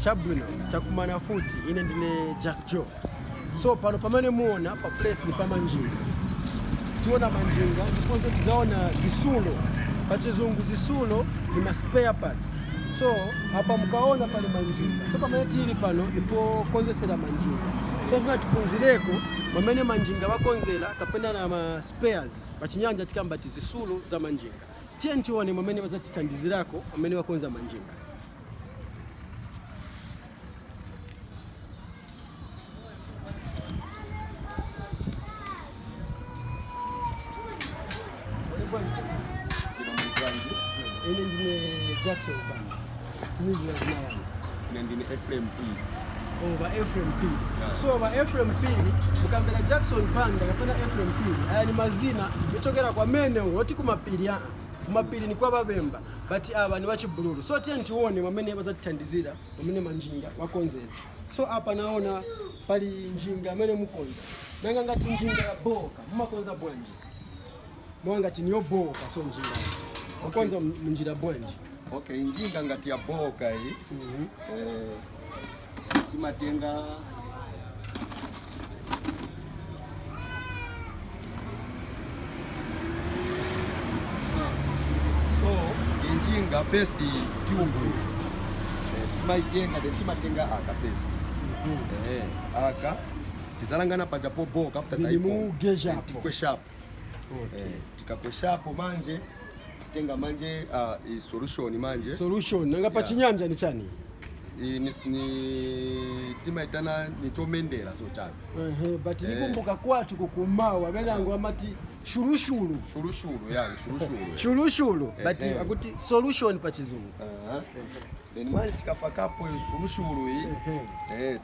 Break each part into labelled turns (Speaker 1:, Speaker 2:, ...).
Speaker 1: chabwino takumana futi ine ndine jack joe so pano pamene muona pa place ni pamanjinga tiona manjinga ndiponso tizaona zitsulo pachizungu zitsulo ni ma spare parts so apa mukaona pali manjinga so pamene tili pano ndipokonzesera manjinga so tifuna tipunzireko mwamene manjinga wakonzera kapena na ma spares pachinyanja tikamba ti zitsulo za manjinga Tiye tione mwamene bazatithandizirako amene wakonza manjinga. Ine ndine Jackson Banda. Ine ndine Ephraim P a Ephraim P. Yeah. So ba Ephraim P, mukambera Jackson Banda kapena Ephraim P. Aya ni mazina yochokera kwamene bati kumapiri aa. Kumapiri ni kwa babemba, but aba ni wachibululu. So tiye tione mwamene bazatithandizira, mwamene manjinga wakonzera. So apa naona pali njinga amene mukonza. Nanga ngati njinga yabooka, mumakonza bwanji? mwa ngati ni yobooka so njira kukonza m- mnjira bwanji okay njinga ngati yabooka iyi Mhm. eh, timatenga so injinga first tube eh, timaitenga then timatenga aka first eh, aka tizalangana paja pobooka after Vili taipo. mugeja Eh, apo. tikwesha apo okay. eh, tikakweshapo manje titenga manje uh, solution manje solution nanga pa chinyanja ni chani ni, ni timaitana nichomendera so chabe uh -huh, but eh. nikumbuka kwatu kukumawa benango amati shulushulu shulushulu ya shulushulu shulushulu eh, but eh. akuti solution pa chizungu uh -huh. then manje tikafakapo solution hii eh, eh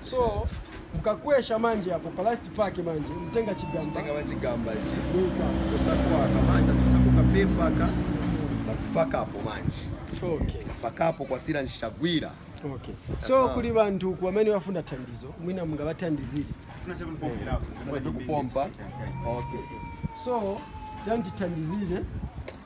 Speaker 1: So mukakwesha manje apo pa last paka manje mtenga chigamba. Mtenga wa chigamba ichi. Nika. Chosakwa kamanda chosakuka pepa ka nakufaka apo manje. Okay. Kafaka apo kwasila nichagwira. Okay. So kuli bantu uku amene bafuna thandizo mwina mungabathandizire. Tunachakupompa. Okay. So tatithandizire.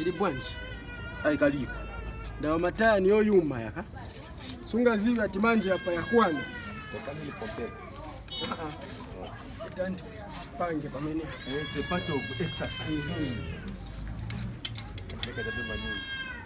Speaker 1: ili bwanji aikalipo ndawa mataya niyoyuma yaka sungaziwe ati manje apa yakwana Dante, pange pamene It's a part of exercise. Make it a bit manual.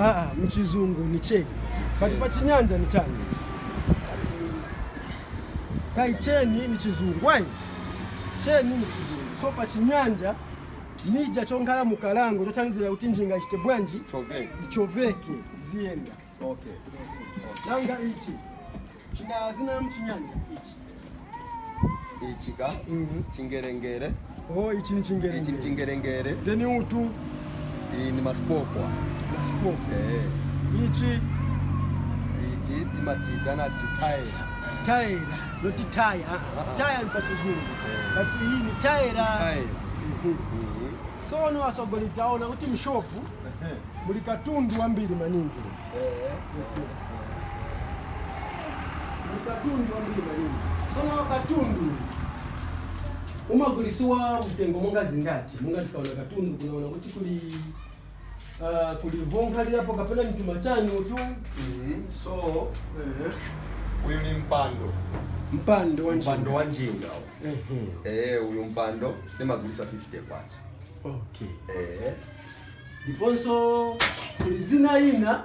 Speaker 1: Aa, mchizungu ni cheni but pa chinyanja ni chani ichi? Kai cheni ni chizungu ai cheni ni chizungu so pa chinyanja nija chonkhala mu kalango chothandizira kuti njinga ichite bwanji Choveka. ichoveke ziyenda Okay. nanga ichi Chida zina mchinyanja ichi. Ichi ka chingerengere. Oh, ichi ni chingerengere. Ichi ni chingerengere. Then utu. Iyi ni masipokwa. Masipokwa. Eh. Ichi. Ichi timachita na chitaira. Taira. Noti taya. Ah, ah, ah. Taya ni pa chizungu. Eh. But iyi ni taira. Taira. Mm-hmm. Mm-hmm. So ni wasogolitaona kuti mshopu muli katundu wambiri maningi. katundu wambiri maningi sono katundu umagulisiwa mtengo monga zingati monga tikaona katundu kunaona kuti kuli uh, kuli vonkhalilapo kapena mtuma chanu tu so uh-huh. uyu ni mpando mpando wa mpando wa njinga uh-huh. eh uyu mpando nimagulisa 50 kwacha okay eh ndiponso kuli zina ina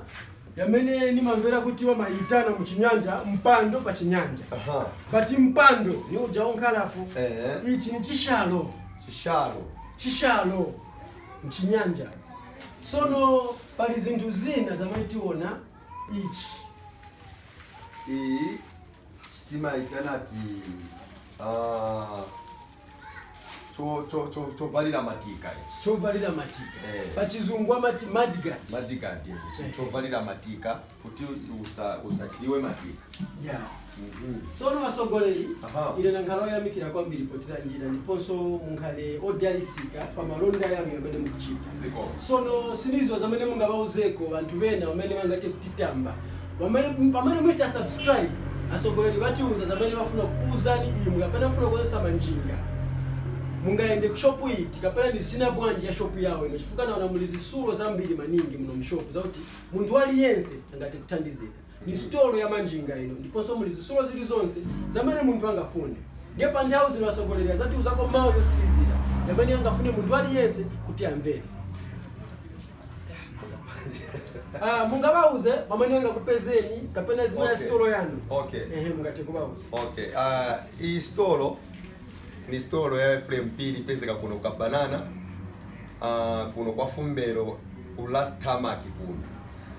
Speaker 1: yamene nimamvera kuti wamayitana mu chinyanja mpando pa chinyanja Aha. but mpando ni uja unkhalapo Eh. ichi ni chishalo Chishalo. chishalo mchinyanja sono pali zinthu zina zamene tiona ichi Iyi timayitana ati ah, cho- cho- cho- chovalira matika ichi chovalira matika Eh. pachizungu amati mudguard mudguard ichi chovalira matika kuti usa- usachiriwe matika yeah. sono atsogoleri Aha. ine nankhala oyamikira kwambiri potilandira ndiponso munkhale odalisika pa malonda yanu amene mukuchita zikomo sono sindiziwa zamene mungabauzeko anthu bena amene bangathe kutitamba Pamene pamene muchita subscribe asogoleli batiuza zamene bafuna kukuuzani imwe kapena mufuna kuonesa manjinga mungayende ku shop iti kapena ni zina bwanji ya shop yao ino chifukwa naona muli zisulo zambili maningi muno mushop zakuti munthu aliyense angate kuthandizika ni stolo ya manjinga ino ndiponso muli zisulo zili zonse zamene munthu angafune ndiye pa nthawi zino asogoleli azatiuzako mau yosilizila yamene angafune munthu aliyense kuti amvere Ah, mungabauze pamene angakupezeni kapena zina ya Okay. sitolo yanu Okay. ehe mungathe kubauza okay ah, iyi sitolo ni sitolo ya Ephraim P ipezeka kuno kwa banana ah, kuno kwa fumbero ku last tamaki kuno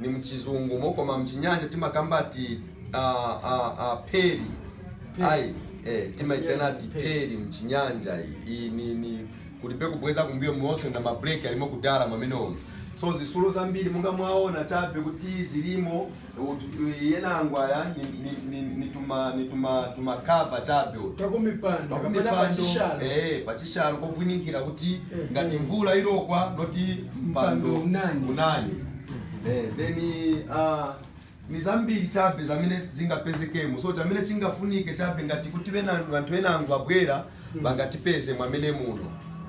Speaker 1: ni mchizungu mo koma mchinyanja timakamba ati uh, uh, uh, peri ai eh, timaitana ati peri mchinyanja iyi ni, ni kulibe kubweza kumbuyo muonse na mabreki alimo kudala mwamenomo so zisulo zambiri munga mwaona chabe kuti zilimo yenangwaya nituma nituma tuma cover chabe uti takumipanda kapena pachishalo pachishalo kovwinikira kuti Eh, ngati eh. mvula irokwa noti mpando unani unani eh, then ni zambiri chabe zamene zingapezekemo so chamene chingafunike chabe ngati kuti anthu enangu abwera bangatipeze mwamene muno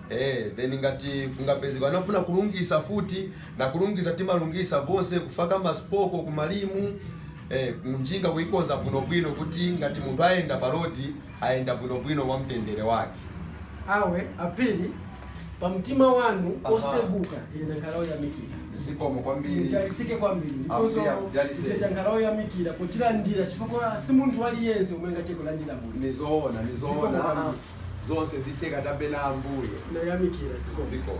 Speaker 1: Eh, then ngati kungapezeka anafuna kulungisa futi na kulungisa timalungisa vonse kufaka masipoko kumalimu eh, njinga kuikonza bwinobwino kuti ngati munthu ayenda pa rodi Ayenda bwinobwino mwa mtendere wake. Awe a Phiri, pamtima wanu Aha. oseguka ine ndakhala oyamikira. Zikomo kwambiri. Mudalitsike kwambiri Ambuye akudalitseni. ndiponso ife takhala oyamikira potilandira chifukwa si munthu aliyense omwe angathe kulandira munthu. Nizoona, Zikomo nizoona. kwambiri. Zonse zitheka chabe na Ambuye. Ndayamikira zikomo. Zikomo.